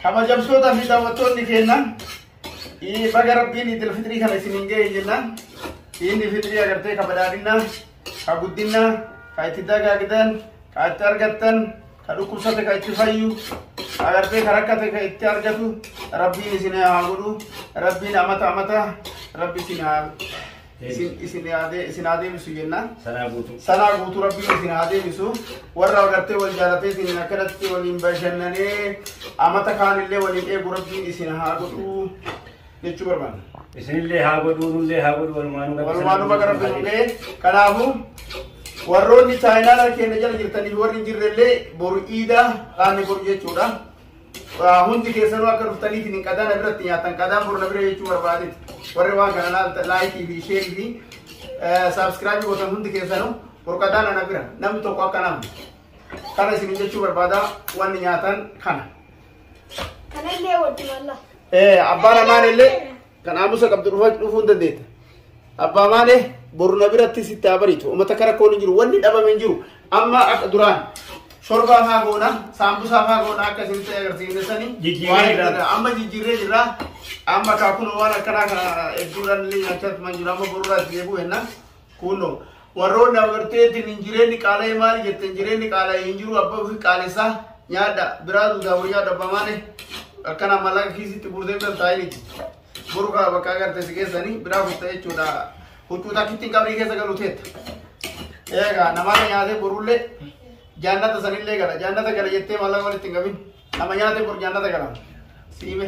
Kabajamtoota fi daawwattoonni keenya baga rabbiin idil fitrii kana isin hin ga'e jenna. Inni fitrii agartee ka badhaadhinna, ka guddinna, ka itti dagaagdan, ka itti argattan, ka dhukkubsate ka itti fayyu, agartee ka rakkate ka itti argatu rabbiin isin haa godhu. Rabbiin amata amata rabbi isin haa isin isin haa dee- isin haa deebisu jennaan Sanaa guutuu. sanaa guutuu rabbiin isin haa deebisu warra agartee wal jaalatee isin akkanatti waliin bashannanee amata kaanillee waliin eegu rabbiin isin haa godhu jechuu barbaanna. Isinillee haa godhuu, nullee haa godhuu, walumaanuu gabaa Walumaa nu bakka rabbi nu ga'e. Kanaafuu warroonni chaayinaala keenya jala jirtanii fi warri hin jirrellee boru iidaa dhaanni boru jechuudha. hundi keessanuu akka dhuftanii isin qadaana biratti nyaatan qadaan borna bira jechuu barbaade warri waan kana laalta laayikii fi sheerii fi saabskiraabii gootan hundi keessanuu borqadaana na bira namni tokko akka nama kana isin jechuu barbaada wanni nyaatan kana. Kanallee wajjin Allah. Eh, abbaan amaan illee Kan aamusa qabdu dhufaa dhufuu hin dandeetta. Abbaa maalee boru na biratti sitti haa bariitu. Uummata kara koon hin jiru. Wanni dhabame hin jiru. Amma akka duraan shorbaa faa goona, saambusaa faa goona akka isinitti agarsiifne sanii. Jijjiirree Waan jirra. hedduudha. Amma jijjiirree jirra. Amma kaakun waan akkanaa kana hedduudhaan illee nyaachaa tuman jiru. Amma borurraa itti deebi'u hennaa. Kuno warroonni abarteetiin hin jireenyi qaala'ee maal jette hin jireenyi qaala'ee hin jiru abbaa ofii qaalessaa nyaadha biraa duudaa boo nyaadha abbaa maale akkana mallaqa kiisitti guurtee bira taa'initi boru kaa bakka agarte si keessanii biraa futta jechuudha huccuu takkitti hin qabrii keessa galu teetta eegaa namaata nyaatee borullee jaannata sanillee gala jaannata gala jettee mallaqa walitti hin qabin nama nyaatee bor jaannata gala siime.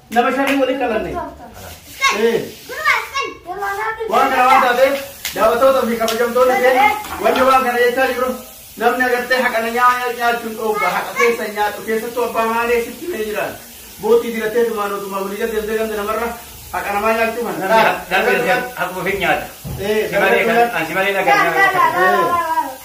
Nama shanii waliin dhalanne. Ee. Waan kana waan taateef daawwattoota fi kabajamtoonni keenya wanni waan kana jechaa jiru namni agartee haqana nyaata nyaachuun dhoogga haqa keessa nyaatu keessattuu abbaa maalee sitti mee jiraan bootii diratee tumaan otumaa walii jala deemtee ganda namarra haqa namaa nyaachuu kan Namni haquma fi nyaata. Ee, Simalee kan- ah, simalee dhagaa nyaata.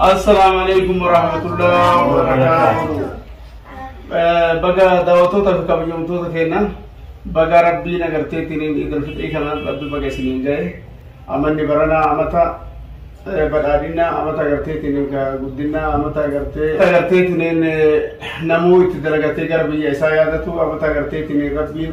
Assalaamu alaikum warahmatullahi wabarakatuh. Baga daawwattoota fi kabajamtoota keenya baga rabbii nagarteetiin idil fixrii kanaan rabbi baga isiniin ga'e amanni baranaa amata eh, badhaadhinaa amata agarteetiin egaa guddinaa amata agartee agarteetiin eh, namuu itti dalagatee gara biyya isaa yaadatu amata agarteetiin rabbiin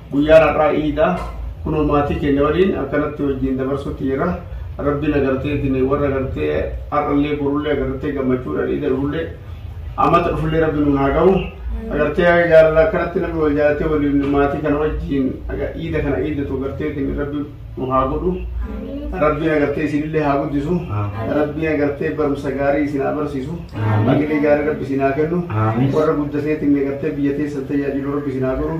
Guyyaan har'aa iida kunoo maatii keenya waliin akkanatti wajjin dabarsutti jira. Rabbiin agarteetiin warra agartee har'allee borullee agartee gammachuudhaan iida dhufullee amata dhufullee rabbi nuun haa gahu. Agartee jaalala akkanatti namni wal jaalatee waliin maatii kana wajjin iida kana iidatu agarteetiin rabbi nu haa godhu rabbiin agartee isinillee haa guddisu rabbiin agartee barumsa gaarii isin haa barsiisu hamilee gaarii rabbi isin haa kennu warra guddateetiin agartee biyya teessan tajaajilu rabbi isin haa godhu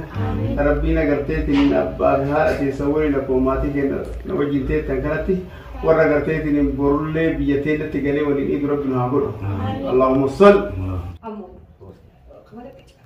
rabbiin agarteetiin abbaa fi haadha teessan waliin akkuma maatii keenya na wajjin teettan kanatti warra agarteetiin borullee biyya teennatti galee waliin iidu rabbi nu haa godhu allahumma sal Ammoo. Walaqa caa.